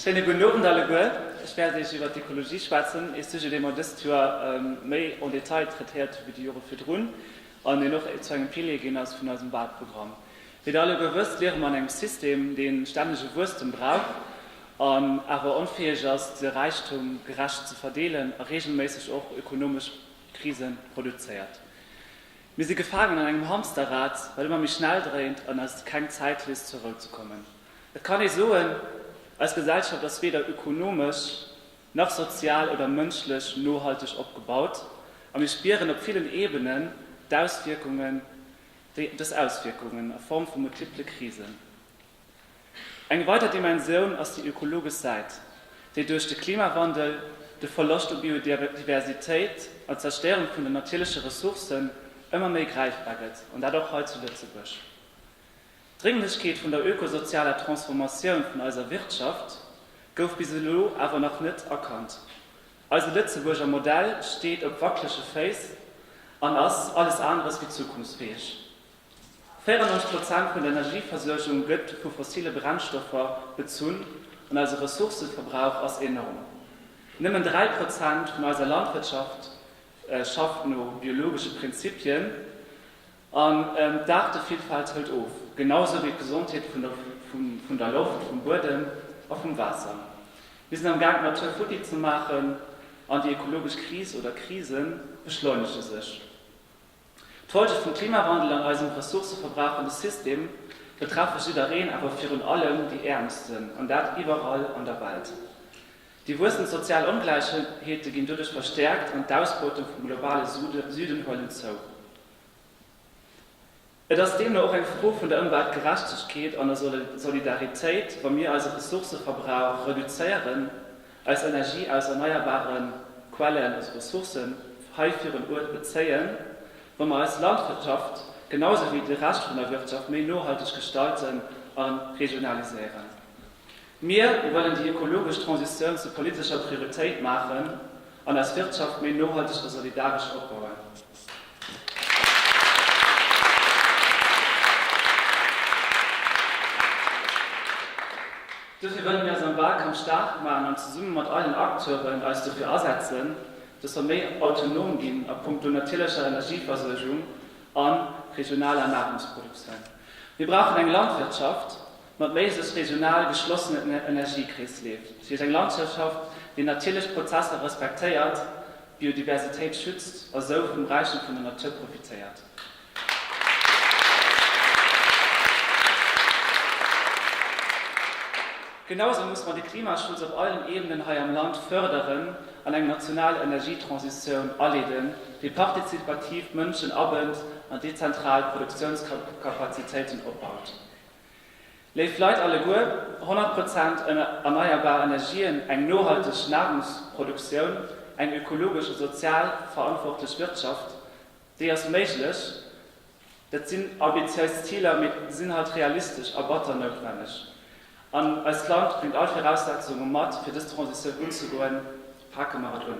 Schéine gudden Owend alleguer. Ech wäert Iech iwwert d'Ekologie schwätzen, ee Sujet, dee mer dëst Joer méi en Detail traitéiert hu wéi déi Jore virdrun an deen och zu engem Pilier ginn ass vun eisem Walprogramm. Wéi Der alleguer wësst, liere mer an engem System, deen stännege Wuesstem brauch an awer onfäeg ass, de Räichtum gerecht ze verdeelen a reegelméisseg och ökonomesch Krise produzéiert. Mir si gefaangen an engem Hamsterrad, wat ëmmer méi schnell dréint an eis keng Zäit léisst zur Rou ze kommen. Et kann ee soen, eis Gesellschaft ass weder ökonomesch nach sozial oder mënschlech nohalteg opgebaut a mir spieren op villen Ebenen d'Auswierkungen déi dës Auswierkungen a Form vu multiple Krisen. Eng weider Dimensioun ass déi ökologesch Säit, déi duerch de Klimawandel, de Verloscht u Biodiversitéit an d'Zerstéierung vun den natierleche Ressourcen ëmmer méi gräifbar gëtt, an dat och hei zu Lëtzebuerg. D'Drénglechkeet vun der ökosozialer Transformatioun vun eiser Wirtschaft gouf bis elo awer nach net erkannt. Eise Lëtzebuurger Modell steet op wacklege Féiss an ass alles aneres wéi zukunftsfäeg. 94 Prozent vun der Energieversuergung gëtt vu fossile Brennstoffer bezunn an eise Ressourcëverbrauch ass enorm. Nëmmen 3 Prozent vun eiser Landwirtschaft schafft no biologesche Prinzipien. An d'Aartevillfalt hëlt of, genau esou wéi d'Gesondheet vun der Loft, vum Buedem a vum Waasser. Mir sinn am Gaang d'Natur futti ze maachen an déi ökologesch Kris oder Krise beschleunege sech. D'Folge vum Klimawandel an eisem ressourcëverbrauchende System betreffe jiddereen, awer virun allem déi Äermsten, an dat iwwerall an der Welt. Déi wuessend sozial Ongläichheete ginn doduerch verstäerkt an d'Ausbeutung vum globale Süden huelen zou. Et ass deemno och eng Fro vun der Ëmweltgerechtegkeet an der Solidaritéit, wa mir eise Ressourcëverbrauch reduzéieren, eis Energie aus erneierbare Quellen, also Ressourcen, hei virun Uert bezéien, wa mer eis Landwirtschaft genau esou wéi de Rescht vun der Wirtschaft méi nohalteg gestalten a regionaliséieren. Mir wëllen déi ökologesch Transitioun zur politescher Prioritéit maachen an eis Wirtschaft méi nohalteg a solidaresch opbauen. Dofir wëllen mir eis am Wahlkampf staark maachen an zesumme mat allen Acteuren eis dofir asetzen, dass mer méi autonom ginn a punkto natierlecher Energieversuergung a regionaler Nahrungsproduktioun. Mir brauchen eng Landwirtschaft, Mat méi sech regional geschlossenen Energiekreesleef, fir eng Landschaftschaft, déi natierlech Prozesser respektéiert, d'Biodiversitéit schützt a sou vum Räichtum vun der Natur profitéiert. Genausou musse mer de Klimaschutz op allen Ebenen hei am Land fërderen an eng national Energietransitioun aleeden, déi partizipativ d'Mënschen abënnt an dezentral Produktiounskapazitéiten opbaut. Léif Leit alleguer, 100 Prozent erneierbar Energien, eng nohalteg Nahrungsproduktioun, eng ökologesch a sozial verantwortlech Wirtschaft, déi ass méiglech. Dat sinn ambitiéis Ziler, mee se sinn halt realistesch a batter noutwenneg. An eist Land bréngt all Viraussetzunge mat, fir dës Transitioun unzegoen. Pake mer et un!